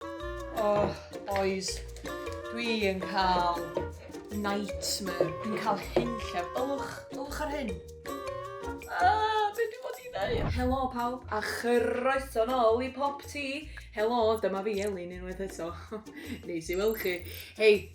Oh, boys, dwi yn cael nightmare. Dwi'n cael hyn lle. Ylwch, ylwch ar hyn. Ah, be dwi'n bod i ddeud? Helo pawb, a chroeso nôl i Pop Tea. Helo, dyma fi Elin unwaith eto. Neis i weld chi. Hei,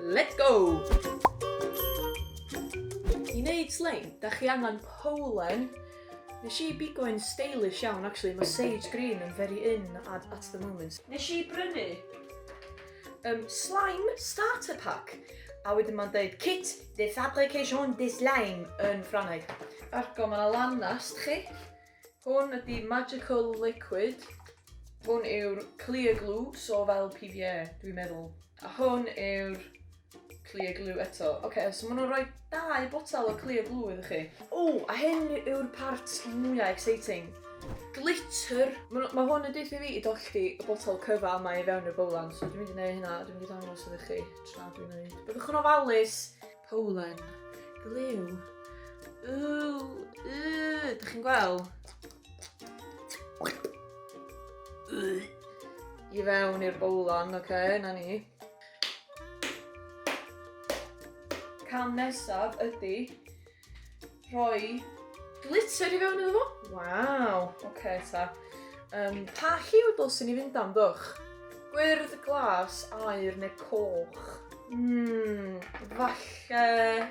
Let's go! I wneud sleim, da chi angen powlen. Nes i bigo yn stylish iawn, actually. Mae sage green yn very in at, at the moment. Nes i brynu um, slime starter pack. A wedyn mae'n dweud kit de fabrication de slime yn Ffrangeg. Argo, mae yna lanast chi. Hwn ydi magical liquid. Hwn yw'r clear glue, so fel PVA, dwi'n meddwl. A hwn yw'r clear glue eto. Oce, okay, so maen nhw'n rhoi dau botal o clear glue iddo chi. O, a hyn yw'r part mwyaf exciting. Glitter. Mae ma hwn yn deithio fi i dollti y botol cyfal mae i fewn y bowlan. So dwi'n mynd i wneud hynna, dwi'n mynd i ddangos iddo chi tra dwi'n wneud. Byddwch yn ofalus. Polen. Glyw. Ww, yy, dych chi'n gweld? I fewn i'r bowlan, oce, okay, na ni. Cam nesaf ydy rhoi glitter i fewn iddo fo. Waw, oce okay, ta. Um, pa lliw dylsyn ni fynd am ddwch? Gwyrdd, glas, air neu coch? Hmm, falle...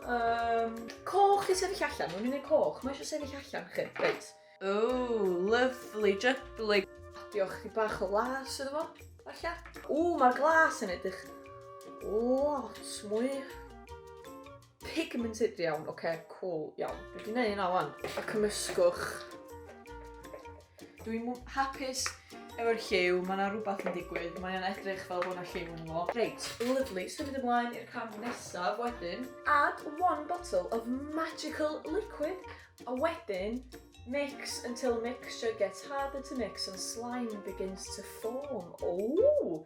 Um, coch i sefyll allan, mae'n mynd i'r coch, mae eisiau sefyll allan chi, reit. Oh, lovely, jubbly. Diolch chi bach o las iddo fo, falle. O, mae'r glas yn edrych lot mwy Pigmented iawn, oce, okay, cool, iawn. Dwi wedi gwneud yna wan. A cymysgwch. Dwi'n hapus efo'r lliw, mae yna rhywbeth yn digwydd, mae yna edrych fel bod yna lliw yn fo. Reit, lovely, symud ymlaen i'r cam nesaf wedyn. Add one bottle of magical liquid, a wedyn mix until mixture gets harder to mix and slime begins to form. Ooh!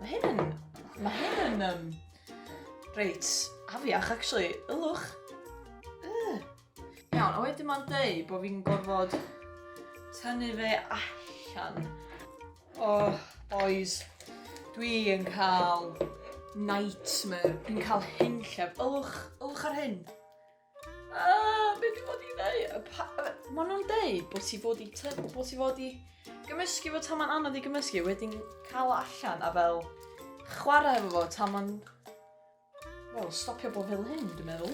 Mae hyn yn... Mae hyn yn... Um, reit, afiach, actually. Ylwch. Uh. Iawn, a wedyn mae'n dweud bod fi'n gorfod tynnu fe allan. Oh, boys. Dwi yn cael nightmare. Dwi'n cael hyn llef. Ylwch, ylwch ar hyn. Ah, beth i fod i ddeud? Mae nhw'n deud bod ti fod i tyfu, bod ti fod i gymysgu fo tan mae'n anodd i gymysgu, wedyn cael o allan a fel chwarae efo fo tan mae'n... Wel, stopio bod fel hyn, dwi'n meddwl.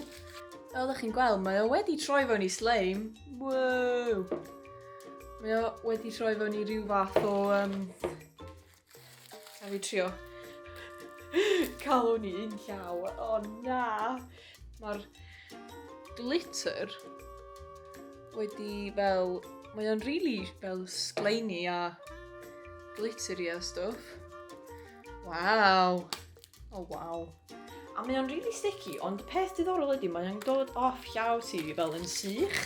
Fel ydych chi'n gweld, mae o wedi troi fewn i slime. Wow! Mae o wedi troi fewn i rhyw fath o... Um, A fi trio calw ni un llaw. O oh, na! Mae'r glitter wedi fel... Mae o'n really fel sgleini a glittery a stuff. Waw! Oh wow. A mae o'n really sticky, ond y peth diddorol ydy mae o'n dod off llaw ti fel yn sych.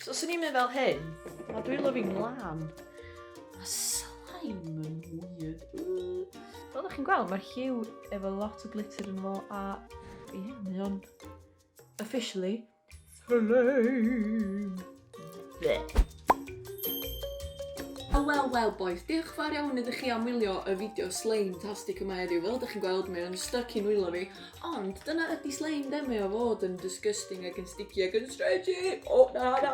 So os o'n i'n mynd fel hyn, mae dwi'n lyfyn lan. Mae slime yn weird. Fel ydych chi'n gweld, mae'r hiw efo lot o glitter yn fo a ie, mae o'n officially Flame. Bleh. O wel wel boys, diolch fawr iawn ydych chi am wylio y fideo slime tastic yma heddiw. Fel ydych chi'n gweld, mae o'n stuck i'n wylio fi. Ond dyna ydy slime de, mae o fod yn disgusting ac yn sticky ac yn stretchy. O oh, na na.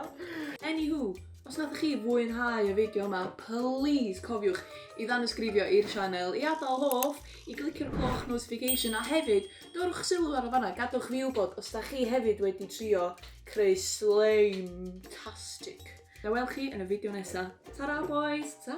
Anywho, os nath chi fwynhau y fideo yma, please cofiwch i ddanysgrifio i'r sianel, i adael hoff, i glicio'r cloch notification a hefyd Dowrwch sylw ar y fanna, gadwch fi wybod os da chi hefyd wedi trio creu slime-tastic. Na wel chi yn y fideo nesa. Tara bois, ta!